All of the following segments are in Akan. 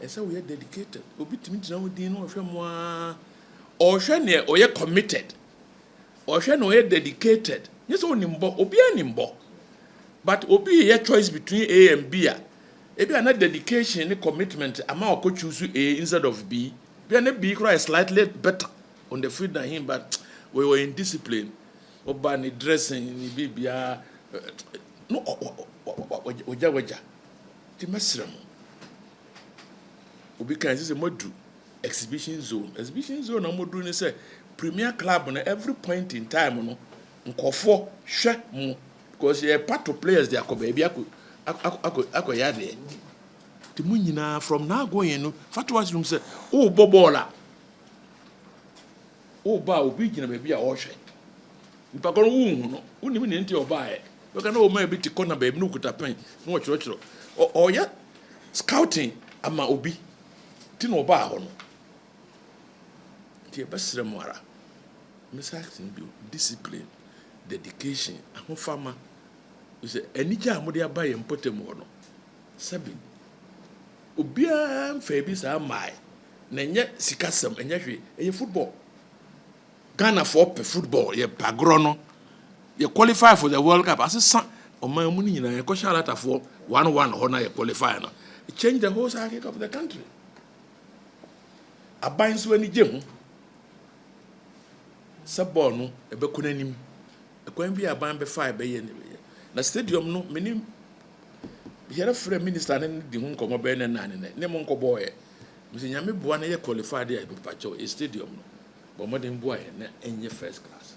Ɛsɛ sɛ woyɛ dedicated. Obi tumi gyina wo din na ɔhwɛ mu ara. Ɔhwɛ nea ɔyɛ committed. Ɔhwɛ nea ɔyɛ dedicated. Nyɛ sɛ onim bɔ. Obiara nim bɔ. But obi reyɛ choice between A and B a, ebia na dedication ne commitment ama ɔkɔ choose A instead of B. Ebia na B koraa yɛ slightly better on the field than him but ɔyɛ undiscipline. Ɔba ne dressing ne biribiara, na wagya wagya. Nti mɛsrɛ mo, obi kae sɛ sɛ moadu exhibition zone, exhibition zone a wɔduru ne sɛ Premier Club no every point in time no nkurɔfoɔ hwɛ mo because yɛ pato players de akɔ baabi akɔ akɔ akɔ akɔyɛ adeɛ. Nti mo nyinaa from now going no fa to ase nom sɛ wobɔ bɔɔl a Woba a, obi gyina baabi a ɔrehwɛ. Nipa korɔ no, wonhu no. Wonnim nea nti a ɔbaeɛ. Bɛka na ɔmaa bi te kɔna baabi na ɔkuta pɛn na ɔkyerɛkyerɛ. Ɔ, ɔreyɛ scouting ama obi. Nti na ɔbaa hɔ no. Nti yɛbɛsrɛ mo ara, mɛsa aka no bio, discipline, dedication, ahofama, sɛ anigye a mode aba yɛn mpɔtam hɔ no, sɛbe. Obiara mfaa bi saa mmae. Na ɛnyɛ sikasɛm, ɛnyɛ hwee. Ɛyɛ football. Ghanafoɔ pɛ football. Yɛpɛ agorɔ no. Yɛ qualify for the World Cup. Asesa ɔman mu no nyinaa. Yɛkɔhyɛ Alatafoɔ one one hɔ na yɛ qualify no. It changed the whole psychic of the country. Aban nso ani gye ho sɛ bɔɔl no ɛbɛkɔ n'anim. Ɛkwan bi a aban bɛfae bɛyɛ ne bɛyɛ. Na stadium no, menim Yɛrɛ frɛ minister ne no di ho nkɔmɔ bɛyɛ nɛ naane nɛ ne mo nkɔ bɔɔ yɛ mesɛ nyame boa na yɛ qualify de a mepakyɛw yɛ stadium no bɔ mmɔden boa yɛn na ɛnyɛ first class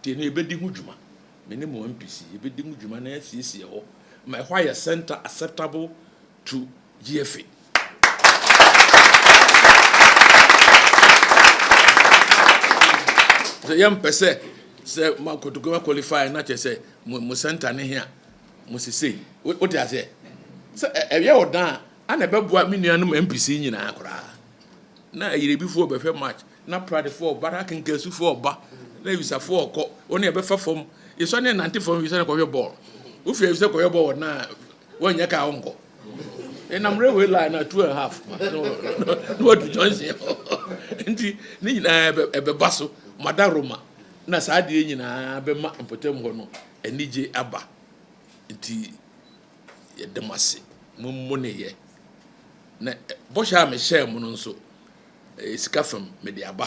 deɛ no yɛbɛdi ho dwuma me ne mo MPC yɛbɛdi ho dwuma na yɛasiesie hɔ ma ɛhɔ ayɛ center acceptable to GFA sɛ yɛmpɛ sɛ sɛ makotokoma qualify na kyɛ sɛ mo center ne he a mo sesei. Wote aseɛ? Sɛ ɛyɛ wo dan a, ana ɛbɛboa me nuanom MPC nyinaa koraa? Na Ayerɛbifoɔ bɛhwɛ match, na Pradefoɔ ba, na Akenkansufoɔ ba, na Awisafoɔ kɔ, wɔn ne ɛbɛfa fam. Yɛsɔ ne nante fam Awisa ne kɔhwɛ bɔɔl. Wofi Awisa kɔhwɛ bɔɔl na wɔnyɛ kaa wonkɔ. Ɛnam railway line na two and a half ma na wɔdu Johnson hɔ. Nti ne nyinaa ɛbɛba so, Madaroma na saa adeɛ nyinaa bɛma mpɔtam hɔ no anigye aba nti yɛda mo ase mo mo ne yɛ na bɔhyɛ a mehyɛɛ mo no nso ɛyɛ sika fam mede aba